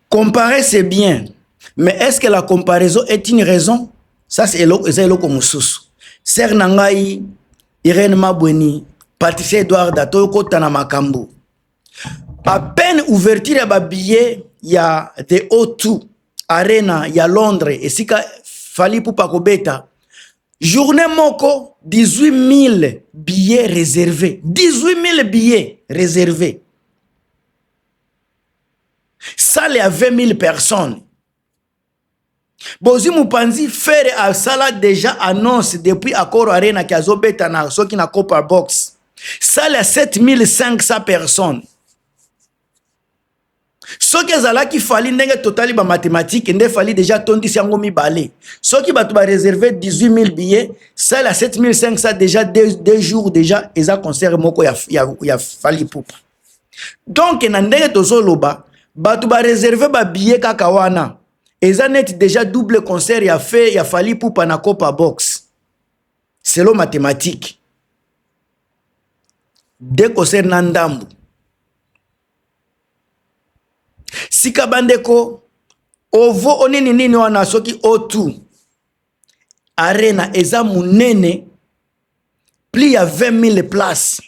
Comparer c'est bien mais est ce que la comparaison est une raison? Ça c'est eza eloko mususu, sœur na ngai Irène Mabweni, Patricia Edwarda tokota na makambu à peine ouverture ya ba billets ya The O2 Arena ya Londres esika Fally Ipupa kobeta journée moko 18000 billets réservés 18000 billets réservés sale ya 20 000 personnes bozwi mopanzi fere asala deja annonce depuis accord arena ke azobeta na soki na copper box sale ya 7500 personnes soki ezalaki fali ndenge totali bamathematike nde fali deja atondisi yango mibale soki bato bareserve 18000 billet sale ya 7500 deja 2 jours deja eza concert moko ya, ya, ya fali pupa donc na ndenge tozoloba bato ba reserve ba billet kaka wana eza neti deja double concert ya fe ya fali pupa na copa box selo mathématique de concert na ndambu sika bandeko ovo onini nini wana soki o2 arena eza monene plus ya 20 000 place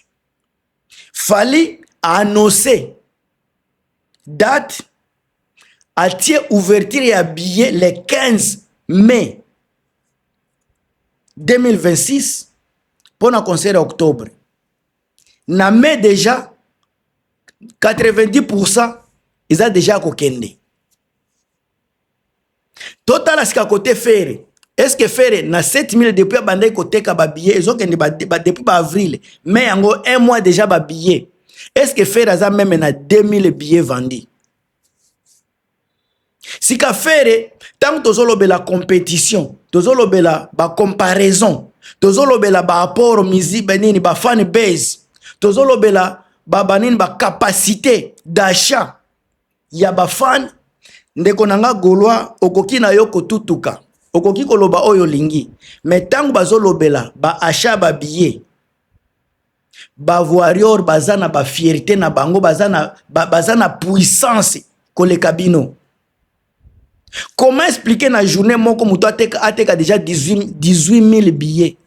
Fally a annonce date atie ouverture ya billet le 15 mai 2026 mpo na concert ya octobre na mai déjà 90 pourcent eza déjà ya kokende totala sika kote fere eske fere na 7000 depuis abandaki koteka babillet ezokende ba, ba, depuis baavril mai yango un mois déjà babillet eske fere aza meme na 2000 billet vendi sika fere ntango tozolobela compétition tozolobela bacomparaison tozolobela baapport misi banini bafan base tozolobela babanini bacapacité d'achat ya ba fan ndeko na nga golois okoki na yo kotutuka okoki koloba oyo olingi me ntango bazolobela ba achat ba billet bavarior baza na bafierte na bango baza na, ba, baza na puissance koleka bino comment expliquer na journée moko moto ateka, ateka déjà 18, 18 000 billets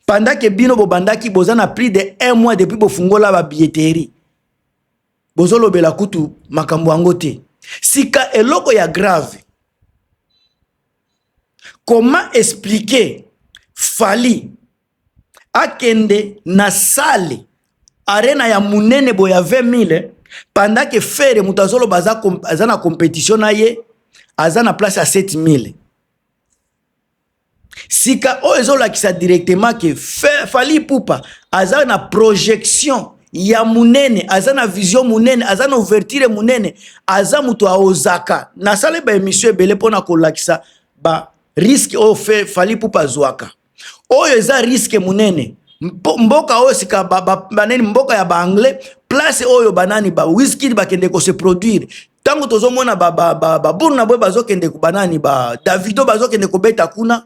pendant ke bino bobandaki boza na plus de un mois depuis bofungola babilletterie bozolobela kutu makambo yango te sika eloko ya grave comment expliquer fali akende na sale arena ya monene boye ya 20 mille pendant ke fere moto azoloba aza, aza na competition na ye aza na place ya 7 mille sika oyo ezolakisa directement ke Fally Ipupa aza na projection ya munene aza na vision munene aza na ouverture munene aza moto aozaka nasala ba emission ebele mpona kolakisa ba riske oyo fe Fally Ipupa azwaka oyo eza riske munene mboka oyo sika banani mboka ya baanglais place oyo banani ba wiskid bakende kose produire ntango tozomona babunu na boye bazokende banani ba davido bazokende kobeta kuna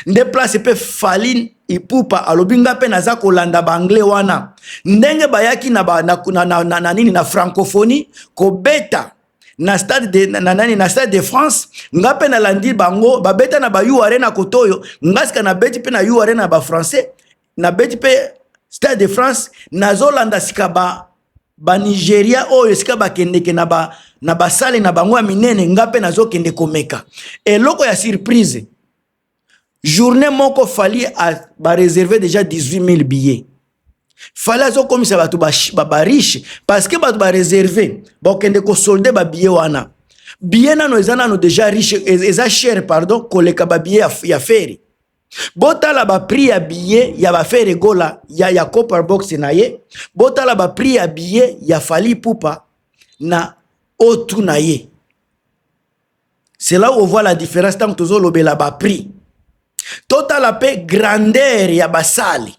nde place mpe faline ipupa alobi nga mpe naza kolanda baanglais wana ndenge bayaki na, ba, na, na, na, na, na nini na francophonie kobeta na stade de, na, na, na stade de france nga mpe nalandi bango babeta na ba u arena koto oyo nga sika nabeti mpe na u arena ya bafrançais na beti pe stade de france nazolanda sika ba banigeria oyo esika bakendeke na ba na basale na bango ya minene nga mpe nazokende komeka eloko ya surprise journée moko fali bareserve déjà 18 000 billets fali azokomisa bato bariche ba, ba parce que bato bareserve bakokende kosolde babillet wana billet nano eza nano déjà riche e, eza chere pardon koleka babillet ya, ya feri botala ba prix ya billet ya ba Ferre Gola ya ya Copper Box na ye botala ba prix ya billet ya Fally Ipupa na otu na ye c'est là où on voit la différence ntango tozolobela ba prix totala mpe grandeur ya basale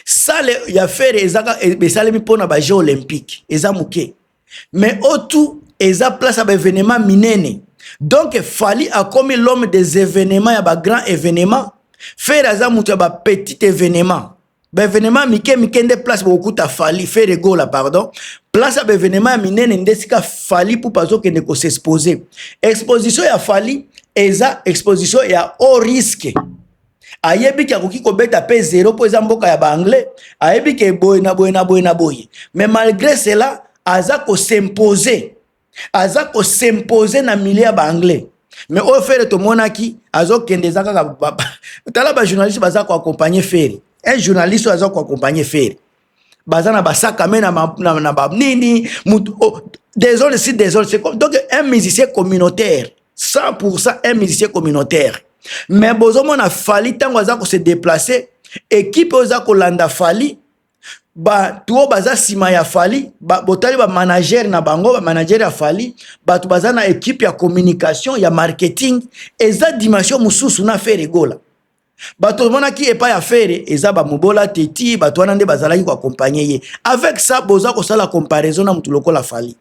sale ya fere ezaka e, esalemi mpona ba jeux olympique eza moke mais otu eza place ya baevenement minene donc fali akomi l'homme des événements ya bagrand événement fere aza moto ya bapetit événement baevenement mike mike nde place bokokuta fali fere gola pardon place ya baevenement ya minene nde esika fali pupa azokende kosexpose exposition ya fali eza exposition ya haut risque ayebi ke akoki kobeta pe zero mpo eza mboka ya baanglais ayebi ke boye na boye na boye na boye mais malgré cela aza kosimpose aza kosimpose na milieu ya baanglais mais oyo fere tomonaki azokende eza kaka tala bajournaliste baza koaccompagne fere un journaliste oyo aza koaccompagne fere baza na basaka me na, na, na, na banini mutu oh, désolé si désolé c'est comme donc un musicien communautaire 100% un musicien communautaire mais bozomona fali ntango aza kose déplace ekipe oyo eza kolanda fali bato oyo baza nsima ya fali ba, botali bamanager na bango bamanager ya fali bato baza na ekipe ya communication ya marketing eza dimension mosusu na fere egola bato omonaki epai ya fere eza bamobola te ti bato wana nde bazalaki koakompanye ye avec ça boza kosala comparaison na motu lokola fali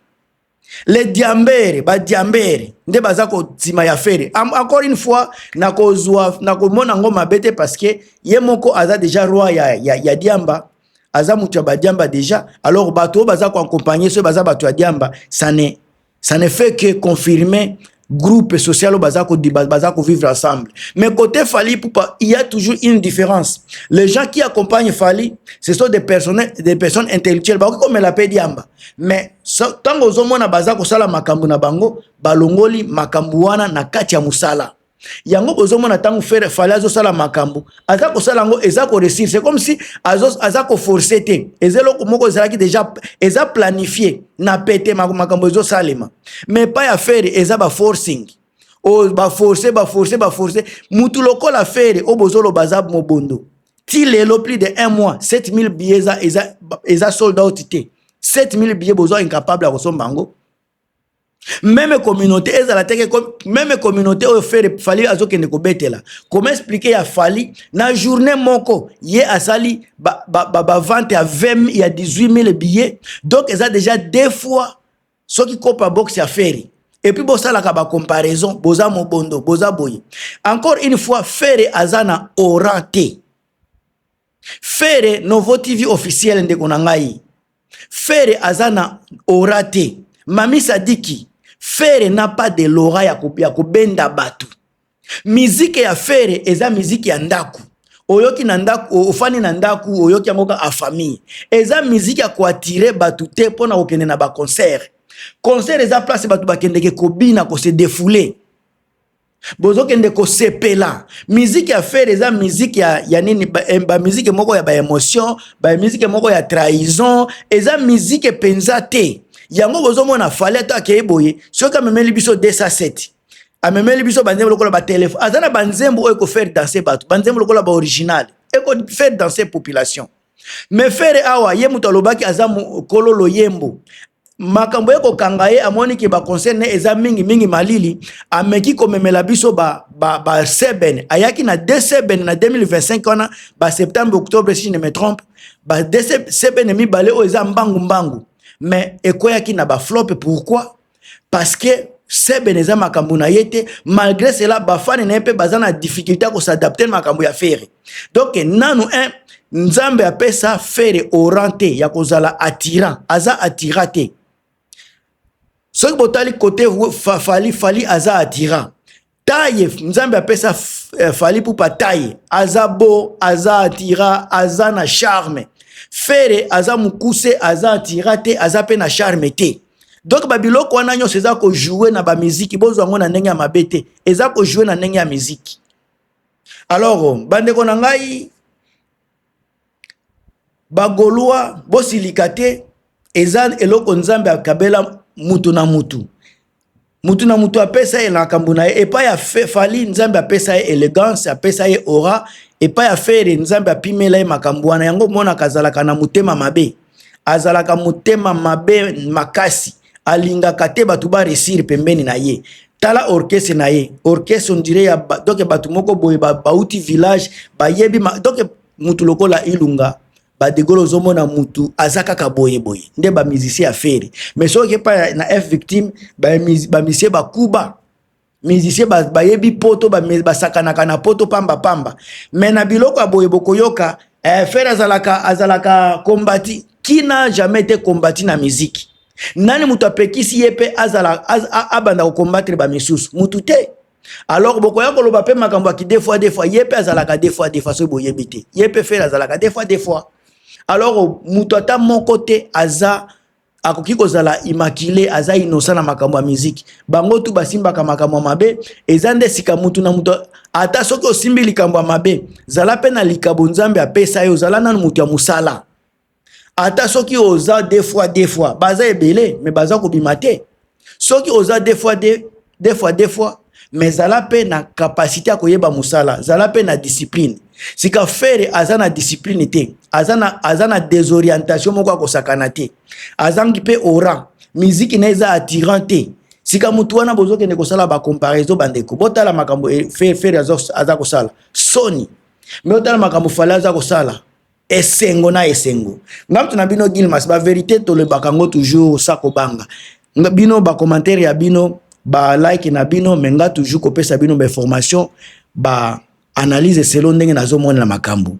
le diambere badiambere nde baza kotima ya fere encore une fois nakozwa nakomona yango mabe te parce que ye moko aza deja roi ya, ya, ya diamba aza moto ya badiamba deja alors bato oyo baza koakompanye soki baza bato ya diamba sane ça ne fait que confirmer groupe social baza ko baza ko vivre ensemble mais côté Fally Poupa il y a toujours une différence les gens qui accompagnent Fally ce sont des personnes des personnes intellectuelles ba ko mela pe diamba mais tango zo mona baza ko sala makambu na bango balongoli makambu wana na kati ya musala yango bozomona ntango fere fale azosala makambo aza kosala yango eza koresir c'est comme si aza koforce te eza eloko moko ezalaki deja eza planifie na pete makambo ezosalema mais pa ya fere eza baforcing oyo oh, baforce baforce baforce mutu lokola fere oyo bozoloba aza mobondo ti lelo plus de un mois 7000 billet eza, eza, eza sold out te 7000 billet boza incapable ya kosomba yango meme communauté ezala teke meme communauté oyo fere fali azokende kobetela koma explike ya fali na journée moko ye asali bavente ba, ba, ba, ba ya 20 ya 18 000 billet donc eza déjà deux fois soki copa box ya fere epuis bosalaka bacomparaison boza mobondo boza boye encore une fois fere aza na oran te Fere Novo TV officiel ndeko na ngai. Fere aza na aura te. Mami Sadiki, Fere n'a pas de l'aura ya kopia kobenda batu. Miziki ya Fere eza miziki ya ndaku. Oyoki na ndaku, ofani na ndaku, oyoki yango ka a famille. Eza miziki ya koatire batu te mpo na kokende na ba concert. Concert eza place batu bakendeke kobina ko se defouler. bozokende kosepela miziki ya fere eza miziki ya, ya nini bamiziki ba eh, moko ya baemotion bamiziki moko ya trahison eza miziki mpenza te yango bozomona fale ato akei boye soki amemeli biso 207 amemeli biso banzembo lokola batelefone aza na banzembo oyo ekofaire danse bato banzembo lokola baoriginal ekofaire danse population Mais Ferre awa ye mutu alobaki aza kolo loyembo makambo ye kokanga ye amoni ke baconseil ne eza mingi mingi malili ameki komemela biso baseben ba, ba ayaki na de seben na 2025 wana ba septembre octobre si je ne me trompe ba de seben mibale oyo eza mbangu mbangu mais ekweyaki na baflope pourquoi parce que Seben eza makambo na ye te malgré cela bafani na ye mpe baza na difficulté ya kosadapte na makambo ya fere donc nanu un nzambe apesa fere oran te ya kozala attirant aza attira te soki botali kote fali fali aza attira taye nzambe apesa eh, fali pupa taye aza bo aza atira aza na charme fere aza mokuse aza atira te aza mpe na charme te donk babiloko wana nyonso eza kojoue na bamiziki bozwa yango na ndenge ya mabe te eza kojoue na ndenge ya miziki alors bandeko na ngai ba golois bosilika te eza eloko nzambe akabela mutu na mutu mutu na mutu apesa ye na makambo na ye epai ya fali nzambe apesa ye elegance apesa ye ora epai ya fere nzambe apimela ye makambo wana yango omonaka azalaka na motema mabe azalaka motema mabe makasi alingaka te bato ba resir pembeni na ye tala orchestre na ye orchestre ondire ya ba, donc bato moko boye bauti ba village bayebi donc mutu lokola ilunga badegolo ozomona mutu aza kaka boye boye nde bamusicien ya fere mais soki epai na f victime bamusicien bakuba musicien bayebi ba poto basakanaka na poto pamba pamba me na biloko ya boye bokoyoka eh, fere azalaka azalaka kombati kina jamais te kombati na miziki nani moto apekisi ye mpe azala az, abanda kokombatre bamisusu motu te alors bokoya koloba mpe makambo ya kidefoi defoi ye mpe azalaka defoi defoi soki boyebi te ye mpe fere azalaka defoi defoi alors moto ata moko te aza akoki kozala immaculé aza innocent na makambo ya miziki bango tu basimbaka makambo ya mabe eza nde sika mutu na mutu ata soki osimbi likambo ya mabe zala mpe na likabo nzambe apesa yo zala nanu mutu ya mosala ata soki oza de fois de fois baza ebele me baza kobima te soki oza deux fois deux deux fois deux fois mais zala mpe na kapasite ya koyeba mosala zala mpe na discipline sika fere aza na discipline te aza na, aza na desorientation moko ya kosakana te azangi mpe oran miziki na eza attirant te sika motu wana bozokende kosala bacomparaison bandeko botala makambo e, fere aza kosala soni me otala makambo fale aza kosala esengo na esengo nga mtu na bino gilmas ba verite tolebaka yango toujours sa kobanga bino ba commentaire ya bino ba like na bino me nga toujours kopesa bino ba information ba analyse selon ndenge nazomonela makambo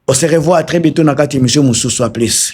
on se revoit très bientôt na kati émission mosusu a plus